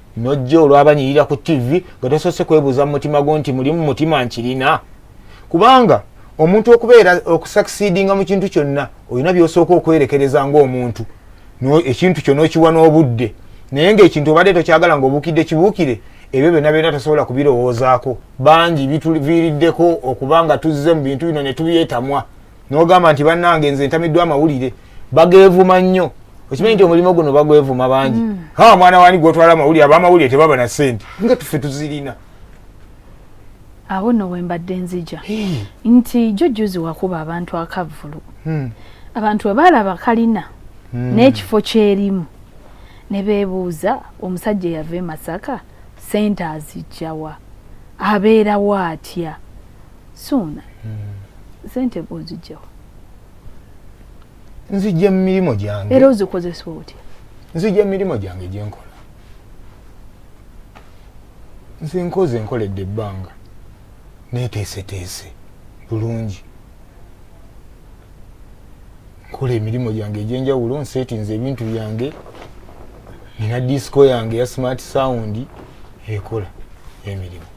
nojja olwabanyirira ku ttivi nga tosoose kwebuuza mu mutima gwo nti mulimu mutima nkirina kubanga omuntu okubeera okusakisidinga mu kintu kyonna olina byosooka okwerekereza ngaomuntu ekintu kyo nokiwa n'obudde naye ngaekintu obadde tokyagala nga obuukidde kibuukire ebyo byonna byonna tosobola kubirowoozaako bangi bituviiriddeko okuba nga tuzze mu bintu bino ne tubyetamwa nogamba nti banange nze ntamiddwa amawulire bagevuma nnyo okimanyi nti omulimu guno bagwevuma bangi mm. ha mwana wani gwotwala amawulire abamawulire tebaba na sente nga tufe tuzirina awo no wembadde nzija nti jojjuzi wakuba abantu akavvulu hmm. abantu webaalaba kalina hmm. n'ekifo kyerimu ne beebuuza omusajja eyava e masaka sente azijjawa abeerawo atya suuna hmm. sente bwozijjawo nzijja mu mirimu gyange era ozikozesa otya nzijja mu mirimu gyange gyenkola nze nkoze nkoledde ebbanga neteeseteese bulungi nkola emirimu gyange egyenjawulo nsetinze ebintu byange nina disco yange ya smart sound ekola emirimu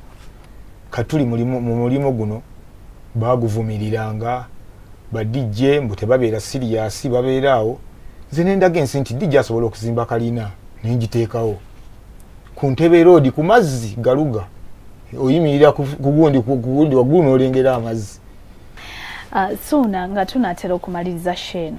katuli mu mulimu guno baguvumiriranga ba DJ mbu tebabeera siriyasi babeera awo nze nendaga ensi nti DJ asobola okuzimba kalina nengiteekawo ku ntebe roodi ku mazzi galuga oyimirira kugundi kugundi waggulu n'olengera amazzi ah, suuna nga tunaatera okumaliriza sheeno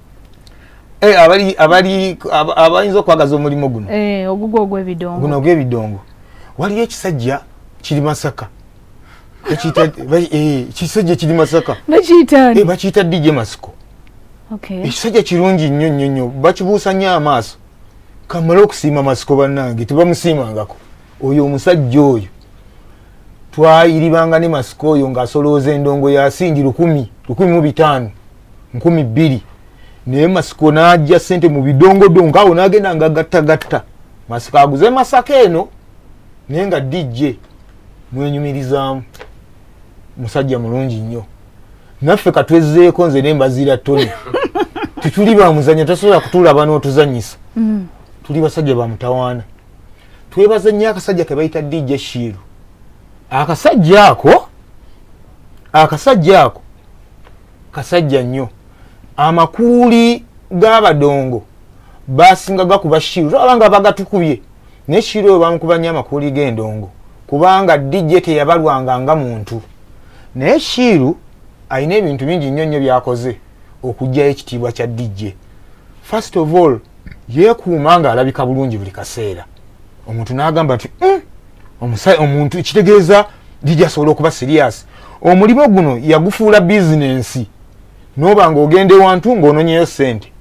Eh, abali abali abayinza okwagaza omulimu guno eh, ogugwo ogw'ebidongo guno ogw'ebidongo waliyo ekisajja kiri masaka eh, kisajja kiri masaka bakiyita dj masiko ekisajja kirungi nnyo nnyo nnyo bakibuusa nnyo amaaso kamala okusiima masiko bannange tebamusiimangako oyo omusajja oyo twayiribanga ne masiko oyo ng'asolooza endongo yasingi lukumi lukumi mu bitaano nkumi bbiri naye masiko n'ajja sente mu bidongodongo awo n'agenda nga gattagatta masiko aguze masaka eno naye nga dijje mwenyumirizaamu musajja mulungi nnyo naffe katwezzeeko nze ne mbaziira tony tetuli bamuzanya tasobola kutulaba n'otuzanyisa mm. tuli basajja bamutawaana twebaza nnyo akasajja ke bayita dijje shiiru akasajja ako akasajja ako kasajja nnyo amakuuli g'abadongo basinga gakuba shiru tolaba nga bagatukubye naye shiru oyo bamukuba nnyo amakuuli g'endongo kubanga dj teyabalwanga nga muntu naye shiru alina ebintu bingi nnyo nnyo byakoze okugyayo ekitiibwa kya dj first of all yeekuuma ng'alabika bulungi buli kaseera omuntu n'agamba nti hmm, omusai omuntu kitegeeza jiji asobola okuba siriyasi omulimu guno yagufuula bizinensi noba nga ogenda ewantu ngaononyeyo sente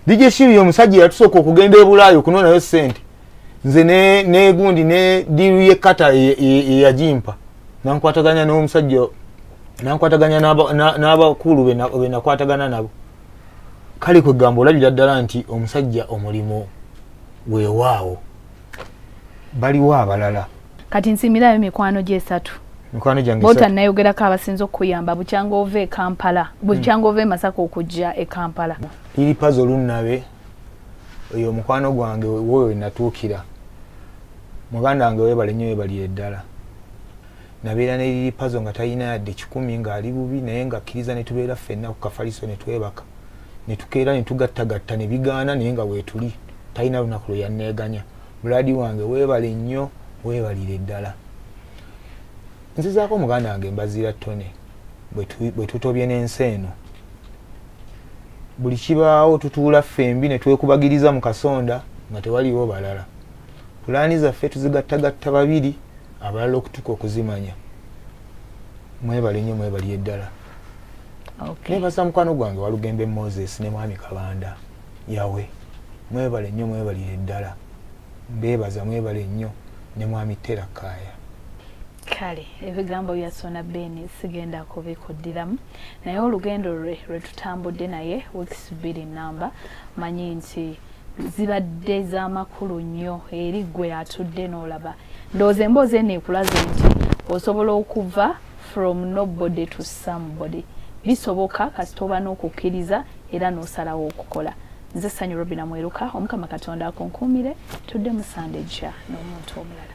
dj shiri omusajja yatusooka okugenda ebulaayo okunonayo sente nze negundi ne diiru ye kata eyajimpa e, e, nankwataganya nomusajja nankwataganya n'abakulu benakwatagana nabo kale kwegamba olabira ddala nti omusajja omulimu wewaawo baliwo abalala kati nsimirayo mikwano gyesatu mikwano gyange bota nayogerako abasinza okukuyamba bukyanga ova e kampala hmm. bukyanga ova e masaka okujja e kampala liri pazo lunnabe oyo omukwano gwange woyo wenatuukira muganda wange webale nyo webalire ddala nabeera ne lili pazo nga talina yadde kikumi nga ali bubi naye nga akkiriza ne tubeera ffenna ku kafaliso ne twebaka ne tukeera ne tugattagatta ne bigaana naye nga weetuli talina lunaku lwe yanneeganya buladi wange weebale nnyo weebalire ddala nzizaako muganda wange mbazira tone bwe tutobye n'ensi eno buli kibaawo tutuula ffembi ne twekubagiriza mu kasonda nga tewaliwo balala pulaani zaffe tuzigattagatta babiri abalala okutuka okuzimanya mwebale nyo mwebali eddala okay. nebaza mukwano gwange walugembe moses ne mwami kabanda yawe mwebale nyo mwebalire eddala mbebaza mwebale nyo ne mwami tera kaya kale ebigambo bya sona beni sigenda kubikuddiramu naye olugendo lwe lwetutambudde naye weeks bbiri namba manyi nti zibadde zamakulu nnyo eri gwe atudde n'olaba ndowooza emboozi eno ekulaze nti osobola okuva from nobody to somebody bisoboka kasita oba n'okukkiriza era n'osalawo okukola nze sanyu robina mweruka omukama katonda akunkuumire tudde musande jja n'omuntu omulala